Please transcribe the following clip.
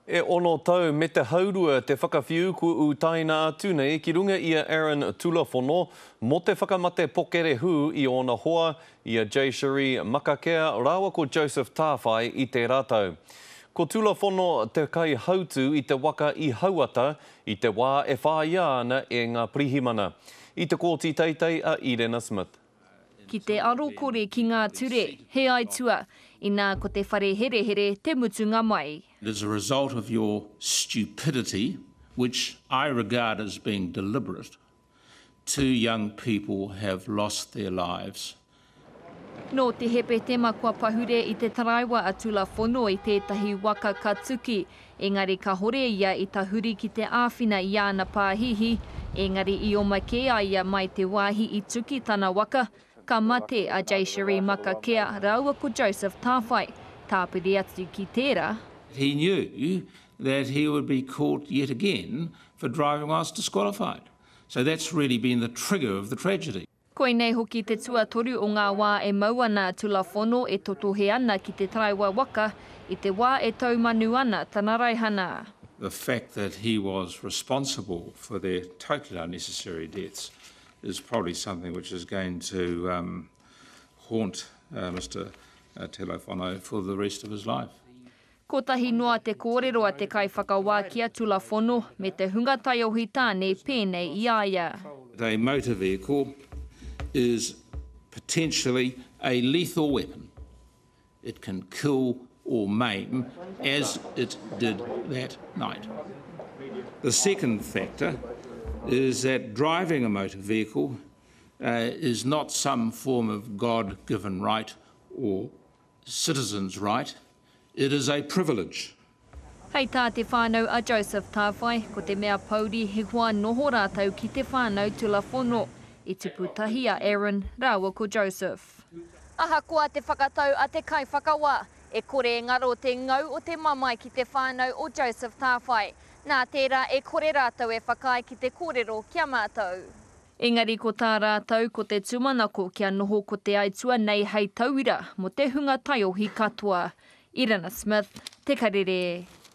E ono tau me te haurua te whakawhiu kua utaina atu nei ki runga i a Aaron Tulafono mō te whakamate pokerehū i ōna hoa, i a Jay-Cherie Makakea rāua ko Joseph Tāwhai i tērā tau. Ko Tulafono te kaihautū i te waka i Hauata i te wā e whāia ana e ngā pirihimana. I te kōti teitei a Irena Smith. Ki te aro kore ki ngā ture, he aitua, inā ko te whare herehere te mutunga mai. It is a result of your stupidity, which I regard as being deliberate, two young people have lost their lives. Nō te Hepetema kua pahure i te taraiwa a Tula Fono i tētahi waka ka tuki Engari kahore ia i tahuri ki te āwhina i āna pāhihi, engari i oma kē a ia mai te wāhi i tu ki tana waka, ka mate a Jaycheree Makakea rāua ko Joseph Tāwhai, tāpiri atu ki tērā, He knew that he would be caught yet again for driving whilst disqualified. So that's really been the trigger of the tragedy. Koinei hoki te tuatoru o ngā wā e mau ana a Tulafono e totohe ana ki te taraiwa waka i te wā e taumanu ana tana raihana. The fact that he was responsible for their totally unnecessary deaths is probably something which is going to haunt Mister Tulafono for the rest of his life. Kotahi noa te kōrero a te kaiwhakawā ki a Tulafono me te hunga taiohi tāne pēnei i a ia. They motor vehicle is potentially a lethal weapon, it can kill or maim as it did that night. The second factor is that driving a motor vehicle is not some form of God given right or citizen's right, it is a privilege. Hei tā te whānau a Joseph Tāwhai, ko te mea pouri he hoa noho rātou ki te whānau tulafono, i tipu tahi a Aaron rāua ko Joseph. Ahakoa te whakatau a te kaiwhakawā, e kore e ngaro te ngau o te mamae ki te whānau o Joseph Tāwhai. Nā tērā e kore rātou e whakaae ki te kōrero ki a mātou. Engari ko tā rātou ko te tūmanako kia noho ko te aituā nei hei tauira mō te hunga taiohi katoa. Irina Smith, Te Karere.